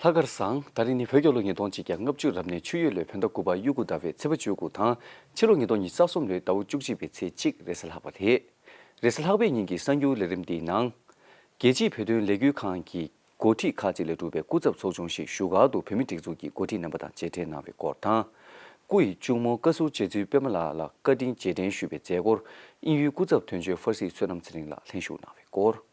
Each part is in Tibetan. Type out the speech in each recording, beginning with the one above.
ལྷ་དཀར་བཟང། ད་རེས་ནི་བོད་སྐྱོར་ལོ་ཉིས་སྟོང་གཅིག་གྱ་ལྔ་བཅུ་རབ་ནས་ཆུ་ཡོས་ལོའི་བོད་ཟླ་དགུ་པ་དབྱུག་གུ་ཟླ་བའི་ཚེས་པ་བཅུ་དགུ་དང། ཕྱི་ལོ་ཉིས་སྟོང་ཉིས་ས་གསུམ་ལོའི་ཟླ་བོ་བཅུ་གཅིག་པའི་ཚེས་གཅིག་རེས་ལྷག་པ་རེད། རེས་ལྷག་པའི་ཉིན་གྱི་གསར་འགྱུར་ལས་རིམ་འདིའི་ནང། རྒྱལ་སྤྱིའི་བོད་དོན་ལས་འགུལ་ཁང་གི་འགོ་ཁྲིད་ཁག་ཅིག་ལས་གྲུབ་པའི་སྐུ་ཚབ་ཚོགས་ཆུང་ཞིག་བཞུགས་སྒར་དུ་བོད་མི་སྒྲིག་འཛུགས་ཀྱི་འགོ་ཁྲིད་རྣམ་པ་དང་མཇལ་འཕྲད་གནང་བའི་སྐོར་དང། སྐུ་ཡི་གཅུང་མོ་བཀའ་ཟུར་རྗེ་བཙུན་པད་མ་ལགས་ལ་བཀའ་དྲིན་རྗེས་དྲན་ཞུས་པའི་མཛད་སྒོར་དབྱིན་ཡུལ་སྐུ་ཚབ་དོན་གཅོད་ཧྥ་སི་བསོད་ནམས་ཚེ་རིང་ལགས་ལྷན་ཞུགས་གནང་བའི་སྐོར།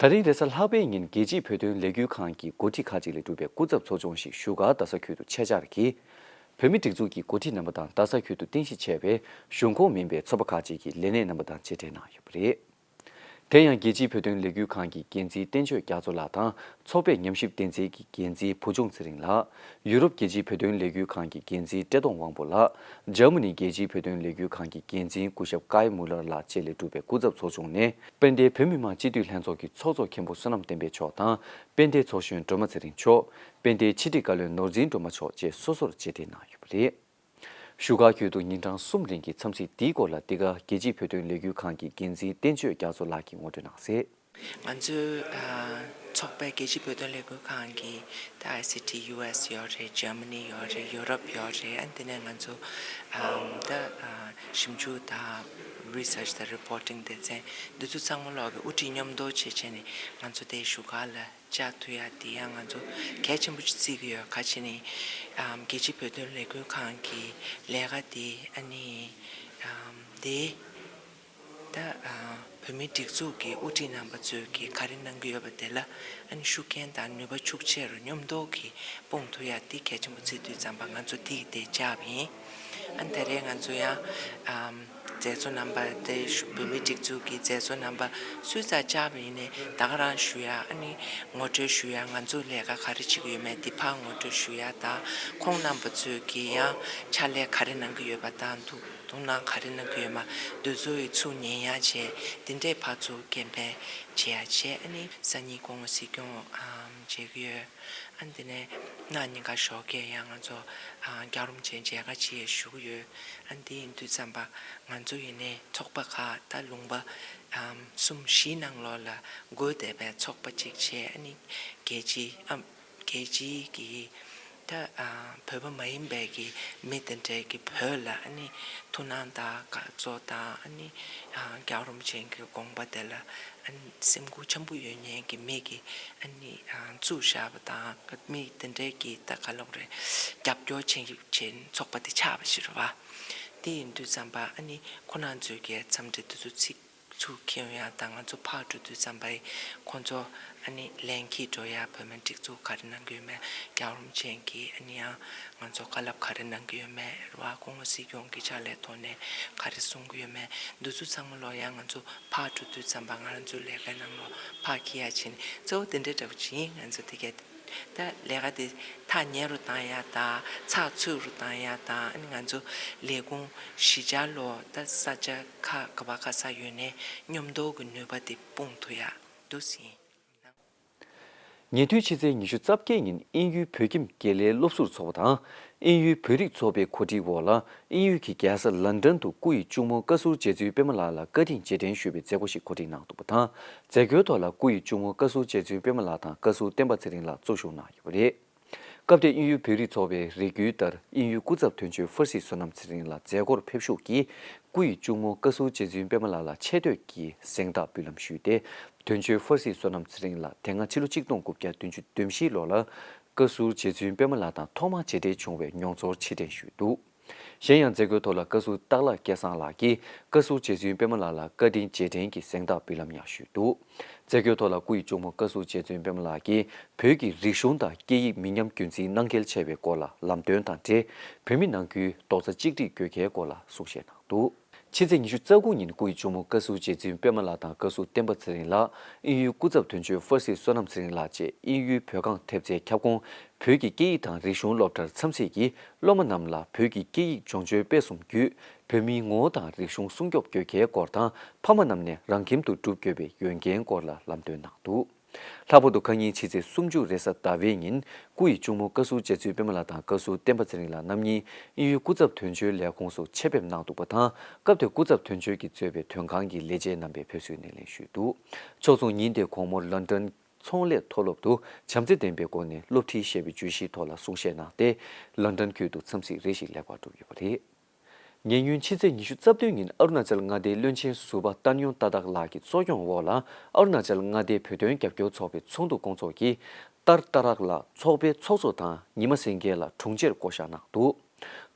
ད་རིང་རེས་གཟའ་ལྷག་པའི་ཉིན་རྒྱལ་སྤྱིའི་བོད་དོན་ལས་འགུལ་ཁང་གི་འགོ་ཁྲིད་ཁག་ཅིག་ལས་གྲུབ་པའི་སྐུ་ཚབ་ཚོགས་ཆུང་ཞིག་བཞུགས་སྒར་རྡ་ས་ཁུལ་དུ་ཆེད་བཅར་གྱིས། བོད་མི་སྒྲིག་འཛུགས་ཀྱི་འགོ་ཁྲིད་རྣམ་པ་དང་རྡ་ས་ཁུལ་དུ་རྟེན་གཞི་བྱས་པའི་གཞུང་ཁོངས་མིན་པའི་ཚོགས་པ་ཁག་ཅིག་གི་ལས་སྣེ་རྣམ་པ་དང་ཆེད་བྲལ་གནང་ཡོད་པ་རེད། དེ་ཡང་རྒྱལ་སྤྱིའི་བོད་དོན་ལས་འགུལ་ཁང་གི་འགན་འཛིན་བསྟན་ཆོས་རྒྱ་མཚོ་ལགས་དང་ཚོགས་པའི་ཉམས་ཞིབ་བསྟན་འཛིན་གྱི་འགན་འཛིན་བུ་ཆུང་ཚེ་རིང་ལགས། ཡུ་རོབ་རྒྱལ་སྤྱིའི་བོད་དོན་ལས་འགུལ་ཁང་གི་འགན་འཛིན་བཀྲས་མཐོང་དབང་པོ་ལགས། ཇར་མ་ནི་རྒྱལ་སྤྱིའི་བོད་དོན་ལས་འགུལ་ཁང་གི་འགན་འཛིན་སྐུ་ཞབས་ཀའེ་མུ་ལར་ལགས་བཅས་ལས་གྲུབ་པའི་སྐུ་ཚབ་ཚོགས་ཆུང་ནི། དཔལ་ལྡན་བོད་མི་མང་སྤྱི་འཐུས་ལྷན་ཚོགས་ཀྱི་ཚོགས་གཙོ་མཁན་པོ་བསོད་ནམས་བསྟན་འཕེལ་མཆོག་དང་དཔལ་ལྡན་ཚོགས་གཞོན་སྒྲོལ་མ་ཚེ་རིང་མཆོག། དཔལ་ལྡན་ཕྱི་དྲིལ་བཀའ་བློན་ནོར་འཛིན་སྒྲོལ་མ་མཆོག་བཅས་སོ་སོར་རྗེས་འདེད་གནང་ཡོད་པ་རེད། བཞུགས་སྒར་ཁུལ་དུ་ཉིན་གྲངས་གསུམ་རིང་གི་འཚམས་གཟིགས་འདིའི་སྐོར་ལ་འདི་ག་རྒྱལ་སྤྱིའི་བོད་དོན་ལས་འགུལ་ཁང་གི་འགན་འཛིན་བསྟན་ཆོས་རྒྱ་མཚོ་ལགས་ཀྱིས་ངོ་སྤྲོད་གནང་གསལ། ང་ཚོའི་ཚོགས་པའི་རྒྱལ་སྤྱིའི་བོད་དོན་ལས་འགུལ་ཁང་གི་ད ICT US ཡོད་རེད Germany ཡོད་རེད Europe ཡོད་རེད་ཨ་འདི་ནས་ང་ཚོ་ད་ཞིབ་འཇུག་དང Research དང Reporting དེ་ཚན་འདི་ཚོ་ཚང་མ་ལོག་གི་དབུ་ཁྲིད་སྙོམས་བསྡོ་བྱེད་བྱས་ནས་ང་ཚོ་དེ་བཞུགས་སྒར་ལ་བཅའ་ཐུ་ཡ་དེ་ཡང་ང་ཚོ་གལ་ཆེན་པོ་ཅིག་བརྩི་གི་ཡོད་ཁ་ཆེ་ནི་རྒྱལ་སྤྱིའི་བོད་དོན་ལས་འགུལ་ཁང་གི་ལས་ཀ་དེ་ཨ་ནི་དེ། ད་བོད་མིའི་སྒྲིག་འཛུགས་ཀྱི་དབུ་ཁྲིད་རྣམ་པ་ཚོས་ཀྱིས་ག་རེ་གནང་གི་ཡོད་པ་དེ་ལ་ཨང་ཤུགས་རྐྱེན་དང་ནུས་པ་ཕྱུག་ཆེ་རུ་སྙོམས་དོགས་ཀྱིས་སྤོང་ཐུབ་ཡ་འདི་གལ་ཆེན་པོ་ཚིག་དུས་བརྩམས་པ་ང་ཚོ་དེ་ཡི་དེ་ཅག་ཡིན་ཨང་ད་རེས་ང་ཚོ་ཡང་མཛད་གཙོ་རྣམ་པ་དེ་བོད་མིའི་སྒྲིག་འཛུགས་ཀྱི་མཛད་གཙོ་རྣམ་པ་སུས་ཙག་ཅག་པ་ཡིན་ནས་ད་ག་རང་ཞུ་ཡ་ཨ་ནི་ངོ་སྤྲོད་ཞུ་ཡ་ང་ཚོ་ལས་ཀ་ག་རེ་བྱེད་ཀྱི་ཡོད་མེད་འདི་ཕར་ངོ་སྤྲོད་ཞུ་ཡ་དང་ཁོང་རྣམ་པ་ཚོས་ཀྱིས་ཡང་ཕྱག་ལས་ག་རེ་གནང་གི་ཡོད་པ་དང་འདུག། དུང་ནག་ག་རེ་ན་རྒོད་མ་འདོད་བཟོ་བའི་ཚུགས་ཉེན་ཡ་བྱས་དེ་འདྲའི་བ་ཚུགས་སྐེམ་པའི་བྱེད་ཡ་བྱས་ཨ་ནི་ས་གཉིས་གོང་བ་སྲིད་སྐྱོང་བྱེད་ཀྱི་ཡོད་ཨ་འདི་ནས་ནག་ཉེན་ཁ་ཞོག་སྐད་ཡ་ང་ཚོ་སྐྱག་རོམ་ཅན་མཇལ་ཁ་བྱེད་ཡ་ཞུ་གི་ཡོད་ཨ་འདི་ཡིན་དུས་བརྩམས་པ་ང་ཚོ་ཡིན་ནས་ཚོགས་པ་ཁག་ད་ལུང་པ་གསུམ་བཞི་ནང་ལོགས་ལ་རྒོལ་བསྡད་པའི་ཚོགས་པ་གཅིག་བྱས་ཨ་ནི་རྒྱལ་སྤྱི་ཨ། རྒྱལ་སྤྱི་གི་ད་བོད་པ་མ་ཡིན་པའི་གི་མི་དེ་འདྲས་གི་བོད་ལ་ཨ་ནི་ཐུགས་སྣང་དང་དགའ་བསུ་དང་ཨ་ནི་རྒྱག་རོམ་ཅན་གི་དགོངས་པ་དེ་ལ་ཨ་ནི་སེམས་འགུགས་ཆེན་པོ་ཡོད་ཉན་གི་མི་གི་ཨ་ནི་བཙུགས་བཞག་པ་དང་མི་དེ་འདྲས་གི་ད་ག་ལོག་རེད་རྒྱབ་སྐྱོར་བྱེད་རྒྱུ་ཆེན་ཚོགས་པ་དེ་ཆགས་པ་ཞིག་རེད་བ། དེ་ཡིན་དུས་བརྩམས་པ་ཨ་ནི་ཁོ་ནང་ཚོས་གི་འཚམས་འདྲི་དེ་ཚོ་ཚིག། ཚུལ་མཁས་ཡོན་ཡང་དང་ང་ཚོ་ཕག་གྲུ་དུས་བརྩམས་པ་ཡིས་ཁོང་ཚོ་ཨ་ནི་ལན་གྱིས་སྒྲོལ་ཡ་བོད་མི་སྒྲིག་འཛུགས་ག་རེ་གནང་གི་ཡོད་མེད་རྒྱང་རོམ་ཅན་གྱིས་ཨ་ནི་ཡང་ང་ཚོ་དཀའ་ལབ་ག་རེ་གནང་གི་ཡོད་མེད་རུ་ཨ་ཁོང་མོ་སྲིད་སྐྱོང་གི་ཕྱག་ལས་ཐོག་ནས་ག་རེ་གསུང་གི་ཡོད་མེད་འདུ་ཚུལ་ཚང་མ་ལོག་ཡང་ང་ཚོ་ཕག་གྲུ་དུས་བརྩམས་པ་ང་རང་ཚོའི་ལས་ཀའི་ནང་ལོག་ཕག་གི་ཡ་བྱིན་གཙོ་བོ་དེ་འདྲ་འདྲ་པོ་ཅི་ཡིན་ང་ཚོ་དེ་གས་ད་ལས་ཀ་དེ་ཐག་ཉེ་རུ་བཏང་ཡ་ད་ཚགས་ཚུད་རུ་བཏང་ཡ་ད་ཨ་ནི་ང་ཚོ་ལས་ཁུངས་གཞི་ཆགས་ལོག་ད་ས་ཆ། ཁ་ག་བ་ག་ས་ཡོད་ནས་ཉོབ་མདོག་གི་ནུས་པ་དེ་སྤུངས་ཐུ་ཡག་འདུག་ཟིན། ཉེ་དུས་ཕྱི་ཚེས་ཉི་ཤུ་རྩ་བརྒྱད་ཉིན་ཨིན་ཡུལ་བོད་ཁྱིམ་དགེ་ལས་སློབ་ཟུར་ཚོགས་པ་དང་ཨིན་ཡུལ་བོད་རིགས་ཚོགས་པའི་གོ་སྒྲིག་འོག་ལ་ཨིན་ཡུལ་གྱི་རྒྱལ་ས་ལན་ཀྲན་དུ་སྐུ་ཡི་གཅུང་མོ་བཀའ་ཟུར་རྗེ་བཙུན་དཔལ་མོ་ལགས་ལ་བཀའ་དྲིན་རྗེས་དྲན་ཞུ་བའི་མཛད་སྒོ་ཞིག་གོ་སྒྲིག་གནང་འདུག་པ་དང་མཛད་སྒོའི་ཐོག་ལ་སྐུ་ཡི་གཅུང་མོ་བཀའ་ཟུར་རྗེ་བཙུན་དཔལ་མོ་ལགས་དང་བཀའ་ཟུར་བསྟན་པ་ཚེ་རིང་ལགས་གཙོ་བཞུགས་གནང་ཡོད་པ་རེད། སྐབས་དེར་དབྱིན་ཡུལ་བོད་རིགས་ཚོགས་པའི་རེ་སྐུལ་ལྟར་དབྱིན་ཡུལ་སྐུ་ཚབ་དོན་གཅོད་ཧྥུ་སི་བསོད་ནམས་ཚེ་རིང་ལ་མཛད་སྒོར་ཕེབས་ཤུགས་ཀྱིས་སྐུ་ཡི་གཅུང་མོ་བཀའ་ཟུར་རྗེ་བཙུན་པད་མ་ལགས་ལ་ཆེ་བསྟོད་ཀྱི་གཟེངས་རྟགས་འབུལ་ལམ་ཞུས་ཏེ་དོན་གཅོད་ཧྥུ་སི་བསོད་ནམས་ཚེ་རིང་ལགས་དེ་སྔ་ཕྱི་ལོ་གཅིག་སྟོང་དགུ་བརྒྱ་བདུན་ཅུ་དོན་བཞི་ལོར་ལ་བཀའ་ཟུར་རྗེ་བཙུན་པད་མ་ལགས་དང་ཐོག་མར་མཇལ་འཕྲད་བྱུང་བའི་མྱོང་ཚོར་ཕྱིར་དྲན་ཞུས་འདུག། གཞན་ཡང་མཛད་སྒོའི་ཐོག་ལ་བཀའ་ཟུར་སྟག་ལྷ་སྐལ་བཟང་ལགས་ཀྱིས་བཀའ་ཟུར་རྗེ་བཙུན་པད་མ་ལགས་ལ་བཀའ་དྲིན་རྗེས་དྲན་གྱི་གཟེངས་རྟགས་འབུལ་ལམ་ཡང་ཞུས་འདུག་མཛད་སྒོའི་ཐོག་ལ་སྐུ་ཡི་གཅུང་མོ་བཀའ་ཟུར་རྗེ་བཙུན་པད་མ་ལགས་ཀྱིས་བོད་ཀྱི་རིག་གཞུང་དང་སྐད་ཡིག་མི་ཉམས་རྒྱུན་འཛིན་གནང་གལ་ཆེ་བའི་སྐོར་ལ་ལམ་སྟོན་དང་འབྲེལ་བོད་མི་ནང་ཁུལ་རྡོག་རྩ་གཅིག་སྒྲིལ་དགོས་གལ་སྐོར་ལ་གསུང་བཤད་གནང་འདུག། ཕྱི་ཚེས་ཉི་ཤུ་རྩ་དགུ་ཉིན་སྐུ་ཡི་གཅུང་མོ་བཀའ་ཟུར་རྗེ་བཙུན་པད་མ་ལགས་དང་བཀའ་ཟུར་བསྟན་པ་ཚེ་རིང་ལགས་ཨིན་ཡུལ་སྐུ་ཚབ་དོན་གཅོད་ཧྥ་སི་བསོད་ནམས་ཚེ་རིང་ལགས་བཅས་ཨིན་ཡུལ་བོད་ཁང་ཐེབས་རྩའི་ཁྱབ་ཁོངས་བོད་ཀྱི་སྐད་ཡིག་དང་རིག་གཞུང་སློབ་གྲྭར་འཚམས་གཟིགས་ཀྱིས་སློབ་མ་རྣམས་ལ་བོད་ཀྱི་སྐད་ཡིག་སྦྱོང་སྤྱོད་སྤེལ་གསུམ་བརྒྱུད་བོད་མིའི་ངོ་བོ་དང་རིག་གཞུང་སྲུང་སྐྱོབ་དགོས་གལ་སྐོར་དང་ཕ་མ་རྣམས་ནས་རང་ཁྱིམ་དུ་བསྒྲུབ་དགོས་པའི་ཡོན་ཏན་སྐོར་ལ་ལམ་སྟོན་གནང་འདུག། ལྷག་པར་དུ་ཁ་ཉིན་ཕྱི་ཚེས་སུམ་ཅུ་རེས་གཟའ་ཟླ་བའི་ཉིན་སྐུ་ཡི་གཅུང་མོ་བཀའ་ཟུར་བཅས་ཚུལ་དཔོན་མ་ལགས་དང་བཀའ་ཟུར་བསྟན་པ་ཚེ་རིང་ལགས་རྣམ་གཉིས་དབྱིན་ཡུལ་སྐུ་ཚབ་དོན་གཅོད་ལས་ཁུངས་སུ་ཆེད་ཕེབས་གནང་འདུག་པ་དང་སྐབས་དེར་སྐུ་ཚབ་དོན་གཅོད་ཀྱིས་གཙོས་པའི་དོན་ཁང་གི་ལས་བྱེད་རྣམ་པས་ཕེབས་བསུའི་སྣེ་ལེན་ཞུས་འདུག་ཕྱོགས་མཚུངས་ཉིན་དེའི་གོང་མོར་ལཱན་ཀྲན་ཚོང་ལས་མཐོ་སློབ་ཏུ་བྱམས་བརྩེ་ལྡན་པའི་སྒོ་ནས་སློབ་ཁྲིད་བཤད་པའི་བརྗོད་གཞིའི་ཐོག་ལ་གསུང་བཤད་གནང་སྟེ་ལཱན་ཀྲན་ཁུལ་དུ་འཚམས་གཟིགས་རེ་ཞིག་ལེགས་པར་གྲུབ་ཡོད་པ་རེད། ཉེ་སྔོན་ཕྱི་ཚེས་ཉི་ཤུ་རྩ་བདུན་ཉིན་ཨ་རུ་ན་ཅལ་མངའ་སྡེའི་བློན་ཆེན་ཟུར་པ་ཏཱན་ཡོན་ཏཱ་ཏག་ལགས་ཀྱི་གཙོ་སྐྱོང་འོག་ལ་ཨ་རུ་ན་ཅལ་མངའ་སྡེའི་བོད་དོན་རྒྱབ་སྐྱོར་ཚོགས་པའི་ཚོགས་འདུ་བསྐོང་ཚོགས་ཀྱིས་ཏར་ཏཱ་རཀ་ལ་ཚོགས་པའི་ཚོགས་གཙོ་དང་ཉི་མ་སེང་གེ་ལ་དྲུང་ཆེར་བསྐོ་བཞག་གནང་འདུག་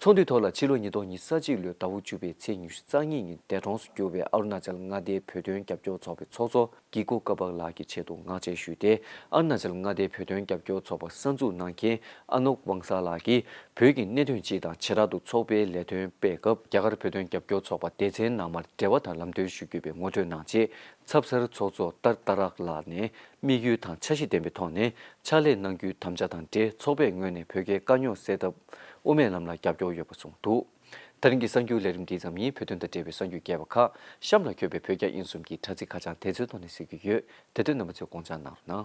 ཚོགས་འདུའི་ཐོག་ལ་ཕྱི་ལོ་ཉིས་སྟོང་ཉིས་ས་གཅིག་ལོའི་ཟླ་བོ་བཅུ་པའི་ཚེས་ཉི་ཤུ་རྩ་གཉིས་ཉིན་འདས་གྲོངས་སུ་གྱུར་བའི་ཨ་རུ་ན་ཅལ་མངའ་སྡེའི་བོད་དོན་རྒྱབ་སྐྱོར་ཚོགས་པའི་ཚོགས་གཙོ་ཀྱི་གོ་སྐབས་བག་ལགས་ཀྱི་ཆེད་དུ་ངག་བཅད་ཞུས་ཏེ་ཨར་ནཱ་ཅལ་མངའ་སྡེའི་བོད་དོན་རྒྱབ་སྐྱོར་ཚོགས་པ་གསར་འཛུགས་གནང་མཁན་ཨ་ནོག་ཝང་སཱ་ལགས་ཀྱིས་བོད་ཀྱི་གནད་དོན་སྤྱི་དང་བྱེ་བྲག་ཏུ་ཚོགས་པའི་ལས་དོན་སྤེལ་སྐབས་རྒྱ་གར་བོད་དོན་རྒྱབ་སྐྱོར་ཚོགས་པ་སྡེ་ཚན་ནང་མར་འབྲེལ་བ་དང་ལམ་སྟོན་ཞུ་རྒྱུ་པའི་ངོ་སྤྲོད་གནང་རྗེས་ཚབ་གསར་ཚོགས་གཙོ་ཏར་ཏཱ་རཀ་ལགས་ནས་དམིགས་ཡུལ་དང་འཆར་གཞི་ལྡན་པའི་ཐོག་ནས་ཕྱག་ལས་གནང་རྒྱུའི་དམ་བཅའ་དང་འབྲེལ་ཚོགས་པའི་ངོས་ནས་བོད་རྒྱའི་དཀའ་རྙོག་སེལ་ཐབས་དབུ་མའི་ལམ་ལ་རྒྱབ་སྐྱོར་ཡོད་པ་གསུངས་འདུག། ད་རིང་གི་གསར་འགྱུར་ལས་རིམ་འདི་ཙམ་ཉིད་བོད་དོན་དང་འབྲེལ་བའི་གསར་འགྱུར་རྒྱས་པ་ཁག་གཤམ་ལ་འཁྱོལ་བའི་བོད་རྒྱ་དབྱིན་གསུམ་གྱི་དྲ་ཚིགས་ཁ་བྱང་དེ་ཚོའི་ཐོག་ནས་གཟིགས་རྒྱུ་ཡོད་དེ་དོན་རྣམ་པ་ཚོས་དགོངས་འཇགས་གནང་རོགས་གནང།